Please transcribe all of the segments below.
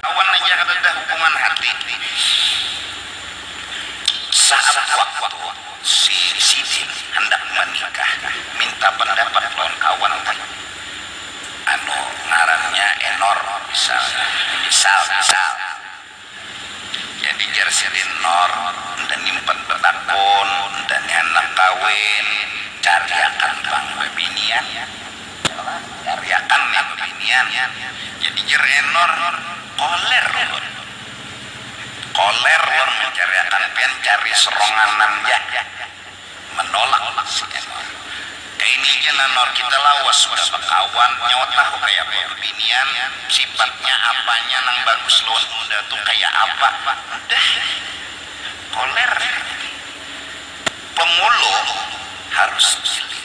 Awan aja kadada hukuman hati. Saat waktu si sidin handak manikah minta pandapat lawan kawan nih, anu ngarannya enor misalnya, misal misal, jadi jar sidin nor nda ni umpat batakun, nda ni handak kawin, cariakan pang babinian. Muriakan nih bebinian. Jadi jer Enor, Koler ulun. Koler ulun mencariakan pian cari seronganan ja. Menolak si Enor. Kaini ja nah Nor, kita lawas sudah bekawan, nyawa tahu kaya apa bebinian, sifatnya, apanya nang bagus lawan unda tu kaya apa. Udah nih, Koler. Pemulu harus giling.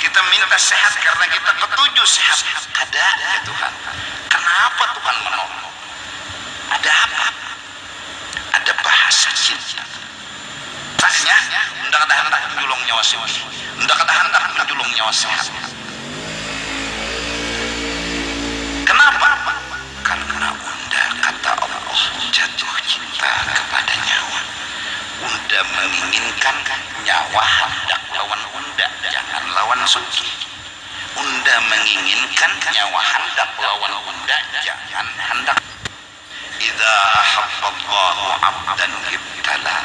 Kita minta sehat karena kita ketuju sehat. Kada, ya Tuhan. Kenapa Tuhan menolak? Ada apa? Ada bahasa jin. Tanya, unda kada handak menjulung nyawa sugih. Unda kada handak menjulung nyawa sehat. Kenapa? Karna unda kata Allah jatuh cinta kepada nyawa, unda menginginkan nyawa handak lawan unda jangan lawan sugih, unda menginginkan nyawa handak lawan unda jangan handak idza ahabballahu abdan ibtalah.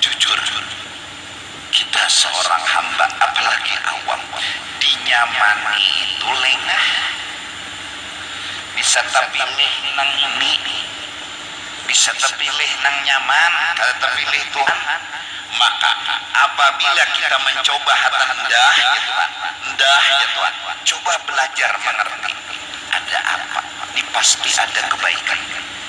Jujur, kita seorang hamba, apalagi awam, dinyamani itu lengah. Bisa tapilih nang ngini, bisa tapilih nang nyaman, kada tapilih Tuhan. Maka, apabila kita mancoba hatan dah ja Tuhan, dah ja Tuhan, coba belajar mangerti ada apa, ni pasti ada kebaikan.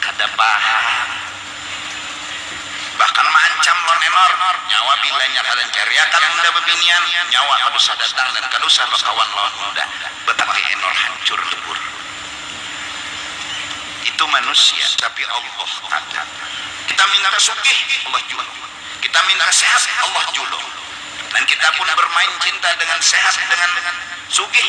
Kada paham. Bahkan maancam Lord Enor, nyawa bilanya kada encariakan unda bebinian, nyawa kada usah datang dan kada usah bakawan lawan unda. Batati Enor hancur lebur. Itu manusia, tapi Allah takut. Kita minta sugih, Allah julung. Kita minta sehat, Allah julung. Dan kita pun bermain cinta dengan sehat, dengan sugih.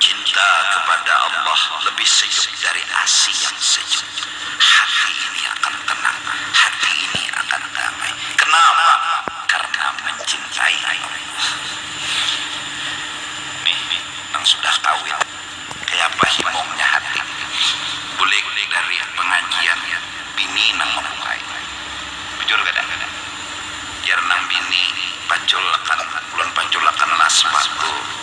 Cinta kepada Allah lebih sejuk dari asi yang sejuk. Hati ini akan tenang, hati ini akan damai. Kenapa? Karena mencintai Allah. Nih, nang sudah kawin, kayapa himungnya hati? Bulik dari pengajian, bini nang membukai. Bujur kada? Jar nang bini, paculakan, ulun paculakanlah sepatu.